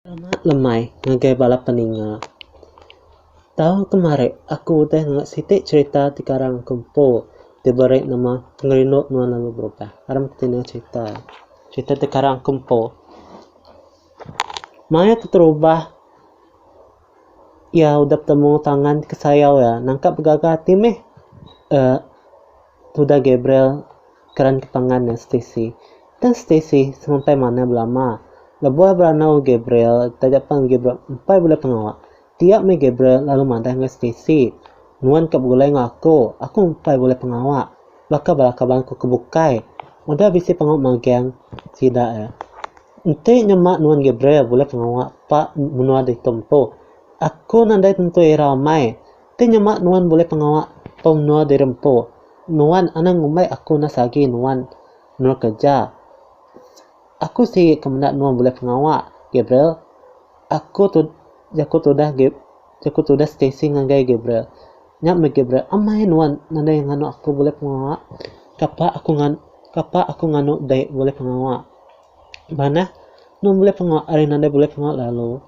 Selamat lemai ngagai bala peninga. Tau kemari aku udah nengah siti cherita ti karang ke empu ti beri nama Ngerindu Menua Lalu Berubah. Aram ti cherita. Cherita ti karang ke empu. Maya keterubah iya udah betemu tangan kesayau iya, nangkap begaga ati meh uhh tudah Gabriel keran ketangan iya Stacey. Tang Stacey semampai manah belama lebuh iya beranau Gabriel taja pan Gabriel empai bulai pengawa. Tiap meh Gabriel lalu madah enggau Stacy, Nuan ka begulai enggau aku, aku empai bulai pengawa. Baka bala kaban aku ke bukai, udah bisi pengawa magang sida iya. Enti nyema nuan Gabriel bulai pengawa pa menua ditu empu, aku nadai tentu ira amai. Enti nyema nuan bulai pengawa pa menua diri empu, nuan anang ngumbai aku nas agi nuan menua kereja. Aku sigi ke meda nuan bulih pengawa, Gabriel. Aku tu, jaku tudah Gab, jaku tudah Stacey ngagai Gabriel. Nya meh Gabriel, amai nuan nadai nganu aku bulih pengawa. Kapa aku ngan, kapa aku nganu dai bulih pengawa. Manah, nuan bulih pengawa ari nadai bulih pengawa lalu.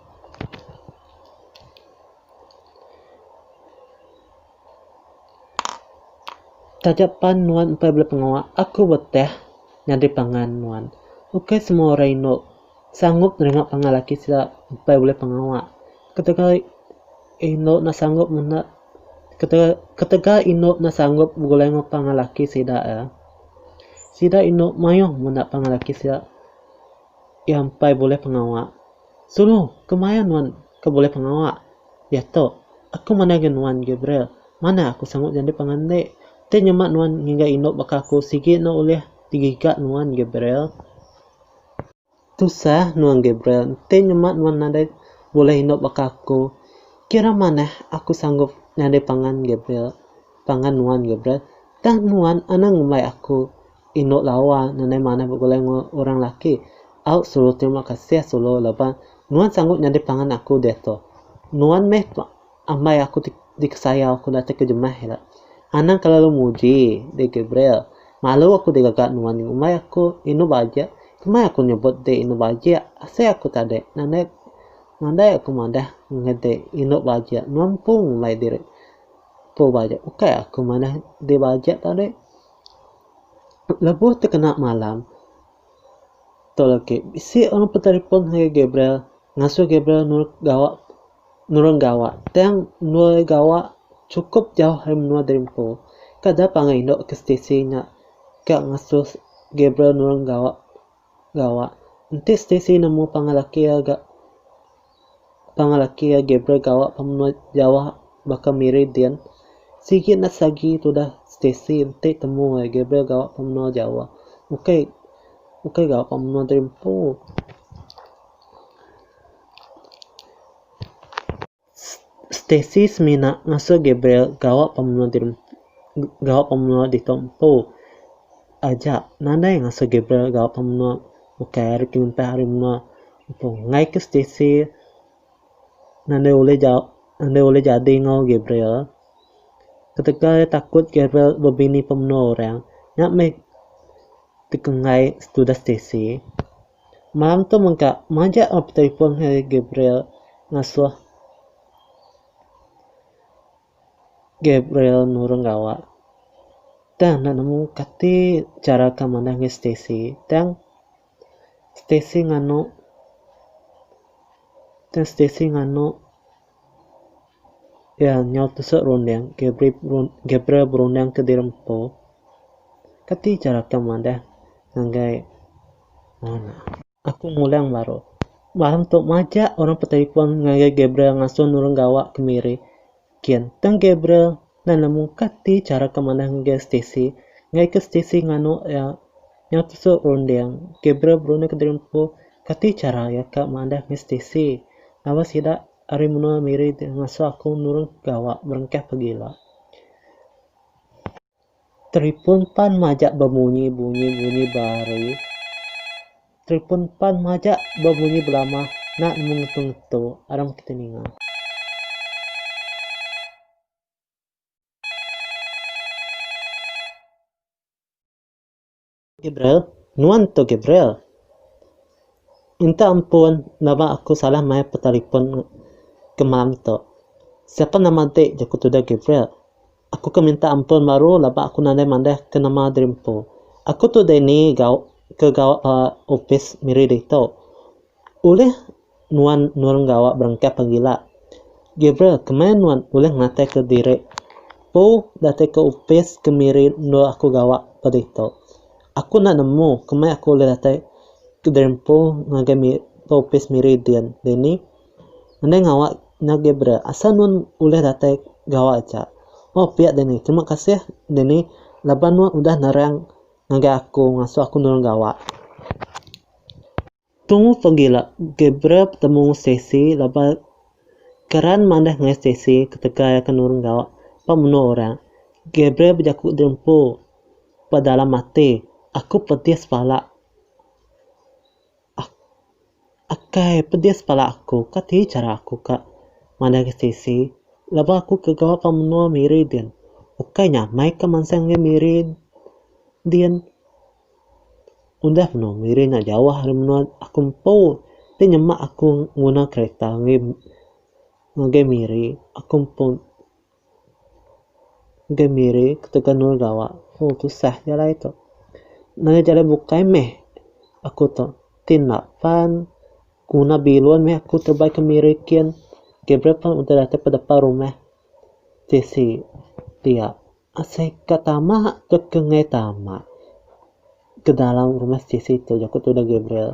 Taja pan nuan empai bela pengawa, aku beteh nyadi pangan nuan. Ukai semua orang indu sanggup nerima pangan lelaki sida empai bulih pengawa. Ketegal ai indu enda sanggup menda ketegal ketegal indu enda sanggup begulai enggau pangan lelaki sida ia. Sida indu mayuh menda pangan lelaki sida iya empai bulih pengawa. Sulu kemaya nuan. Ke bulih pengawa. Diatu. Aku mandai ga nuan, Gabriel. Manah aku sangup nyadi pangan ende. Enti nyema nuan ngiga indu baka aku sigi enda ulih digiga nuan, Gabriel. Tusah nuan, Gabriel. Enti nyema nuan nadai bulih indu baka aku, kira manah aku sanggup nyadi pangan, Gabriel. Pangan nuan, Gabriel. Tah nuan anang ngumbai aku. Indu lawa nadai manah begulai enggau orang laki. Au sulu terima kasih sulu laban nuan sanggup nyadi pangan aku diatu. Nuan meh ambai aku ti dikesayau aku datai ke jemah ila. Anang kelalu muji deh Gabriel. Malu aku digaga nuan ngumbai aku indu bajik kemai aku nyebut deh indu bajik asai aku tadi nadai nadai aku madah ngagai deh indu bajik nuan empu ngumbai diri empu bajik ukai aku madah deh bajik tadi. Lebuh tekena malam tu agi bisi orang betelefon ngagai Gabriel ngasuh Gabriel nulung gawa nulung gawa tang endur gawa sukup jauh ari menua diri empu kada pangan indu ke stesen nya ka ngasuh Gabriel nulung gawa. Gawa. Enti Stacey nemu pangan laki iya ga pangan laki iya Gabriel gawa ba menua jauh baka Meridian, sigi nas agi tudah Stacey enti temu iya Gabriel gawa ba menua jauh. Ukai ukai gawa ba menua diri empu. Stacey semina ngasuh Gabriel gawa pemenua di gawa pemenua ditu empu aja nadai ngasuh Gabriel gawa pemenua ukai ari pengintah ari menua empu ngaika Stacey nadai ulih ja nadai ulih jadi enggau Gabriel ketegal iya takut Gabriel bebini pemenua orang nya meh dikenggai tudah Stacey. Malam tu mega majak lalu betelefon ari Gabriel ngasuh Gabriel nurung gawa. Tang enda nemu kati chara ke manah ngagai Stacy tang Stacy nganu tang Stacy nganu. Pia nyau tusuk runding Gabriel berunding ke diri empu, Kati chara kam madah ngagai Mona? Aku ngulang baru. Malam tu majak orang betelefon ngagai Gabriel ngasuh nulung gawa ke Miri. Kin, tang Gabriel Nan nemu ka ti chara ke manah ngagai Stacey, enggai ke Stacey nganu iya nyau tesu runding. Gabriel berunding ke diri empu kati chara iya ka mandah ngai Stacey laban sida ari menua Miri ti ngasuh aku nurun ke gawa berengkah pegila. Teripun pan majak bemunyi bunyi bunyi bari. Teripun pan majak bemunyi belamah nak nemu ngetu ngetu arang keti ninga. Gabriel, nuan tu Gabriel. Minta ampun baba aku salah maioh petelefon kemam tu. Siapa nama ti jaku tudah Gabriel. Aku ke minta ampun baru laba aku nadai madah ke nama diri empu. Aku tu Danny ke gawa opis miri ditu. Ulih Nuan nulung gawa berengkah pegila. Gabriel, kemaya nuan ulih ngataika diri empu datika opis kemiri endur aku gawa ba ditu? Aku enda nemu kemaya aku ulih datai ke diri empu ngagai mi ba opis miri din dini. Andai ngawa nya Gabriel, asal nuan ulih datai gawa aja. Oh, pia dini. Terima kasih dini laban nuan udah nerang ngagai aku ngasuh aku nulung gawa. Tu pegila Gabriel betemu Stacy laban Karan manah ngai Stacy ketegal iya ke nurun gawa ba menua orang. Gabriel bejaku diempu ba dalam ati, Aku pedis pala. Ak akai pedis pala aku. Kati chara aku ka manah ngai Stacy laban aku ke gawa ba menua Miri din. Ukai nyamai ka mansang ngai Miri din. Udah menoa miri nya jauh ari menoa aku empu ti nyema aku nguna kereta ngagai miri aku empu ngagai miri ketegal enda nulung gawa ooh tusah nya alai tu ngena jalai bukai meh aku tu ti enda pan guna bilun meh aku tebai ke miri kin kaii bere pan udah datai ke depan rumah tisi dia. Asai ka tama tu ke ngai tama ke dalam rumah CC tu ja ku Tudah Gabriel.